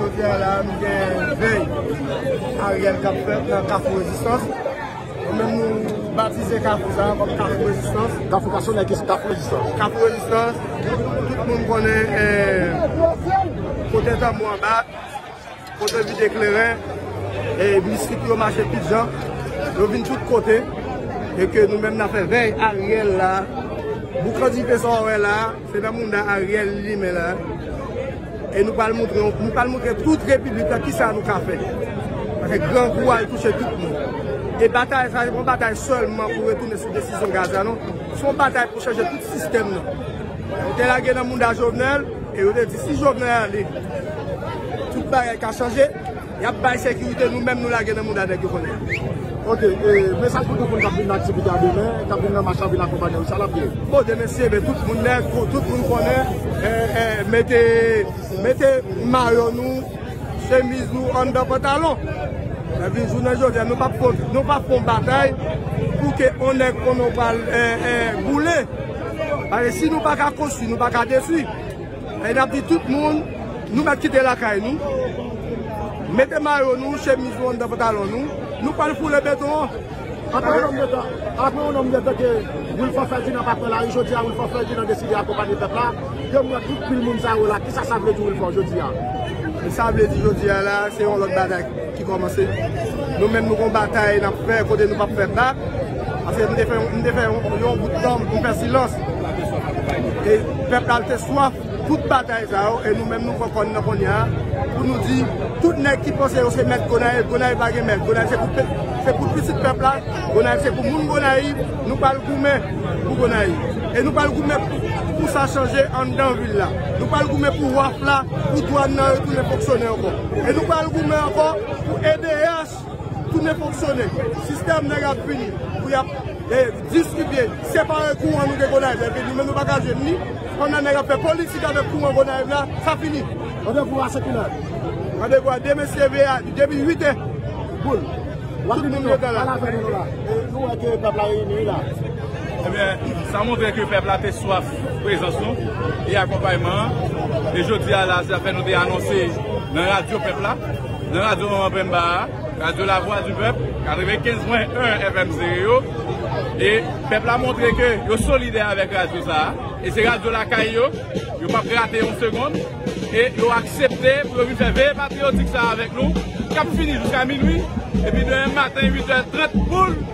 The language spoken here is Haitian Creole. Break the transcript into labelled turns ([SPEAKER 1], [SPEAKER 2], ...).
[SPEAKER 1] Jodia la nou gen vey Ariel kap fèt nan kafou rezistans. Nou menm nou batize kafou sa kòm kafou rezistans. Kafou ka sonnen kis
[SPEAKER 2] kafou rezistans. Kafou rezistans,
[SPEAKER 1] tout moun konnen kote tanbou an bat, kote vide kleren, e mistik yo mache tout jan, yo vin tout kote. E ke nou menm nan fè vey Ariel la. Boukan dife sa wè la. Se nan mounda Ariel li limen la e nou pral moutre nou pral moutre tout repiblik la kisa nou ka fè paske grangou a li touche tout moun e batay sa se pa yon batay sèlman pou retounen sou desizyon gaz la non se yon batay pou chanje tout sistèm nan yo te lage nan mounda Jovenel e yo te di si Jovenel ale tout bagay ka chanje. Yap bay sekirite nou menm nou lage nan mouda nèg yo konnen an. Ok
[SPEAKER 2] mesaj pou tout moun kap vin nan aktivite a demen, kap vin nan mach la vin akonpanye nou, sa lap ye? Bon demen se demen tout
[SPEAKER 1] moun nèg, tout moun konnen mete mete mayo nou, chemiz nou anndan pantalon. Epi jounen jodi a nou pap kont, nou pap fon batay pou ke on nèg konnen ou pral boule. Paske si nou paka konstwi, nou paka detwi. E nap di tout moun nou mèt kite lakay nou, mete mayo nou, chemiz nou anndan pantalon nou, nou pwal foule beton an. Apre yon nonm de
[SPEAKER 2] tan, apre yon nonm de tan ke Wilfort Ferdinand pa pran lari, jodi a Wilfort Ferdinand deside akonpanye pèp la, yo mwen tout pil moun sa yo la, kisa sa vle di Wilfort jodi a? Sa
[SPEAKER 1] vle di jodi a la se yon lòt bagay. ki kòmanse. Nou menm nou gon batay nap fè kote nou pap fè bak. Paske m te fè m te fè yon bout tan m fè silans. E pèp la te swaf tout batay sa yo e nou menm nou pran kò n nan kounya pou nou di tout nèg ki panse yo se mèt Gonayiv, Gonayiv pa gen mèt. Gonayiv se pou se pou pitit pèp la, Gonayiv se pou moun Gonayiv. Nou pral goumen pou Gonayiv. E nou pral goumen pou sa chanje anndan vil la. Nou pral goumen pou waf la. pou dwann nan retounen fonksyone ankò. E nou pral goumen ankò pou edh tounen fonksyone. Sistèm nèg ap vini pou y ap distribye, separe kouran nou gen Gonayiv la epi nou menm nou pa ka jwenn li. Pandan nèg ap fè politik avèk kouran Gonayiv la, sa fini. Randevou a se kilè?
[SPEAKER 2] Randevou a
[SPEAKER 1] demen se leve a depi 8 è. Good. Tout moun
[SPEAKER 2] yo gen la.
[SPEAKER 1] Nou wè ke pèp la reyini
[SPEAKER 2] wi la. Ebyen,
[SPEAKER 3] sa montre ke pèp la te swaf. Prezans nou e akonpayman an e jodi a la zafè nou te anonse nan radyo pèp la, nan radyo manman penmba a, radyo la vwa di pèp 95 pwen 1 FM stereo e pèp la montre ke yo solidè avèk radyo sa a e se radyo lakay yo, yo pap rate yon segond e yo aksepte pou yo vin fè veye patriyotik sa a avèk nou kap fini jouska minwi epi demen maten 8 è 30 poul.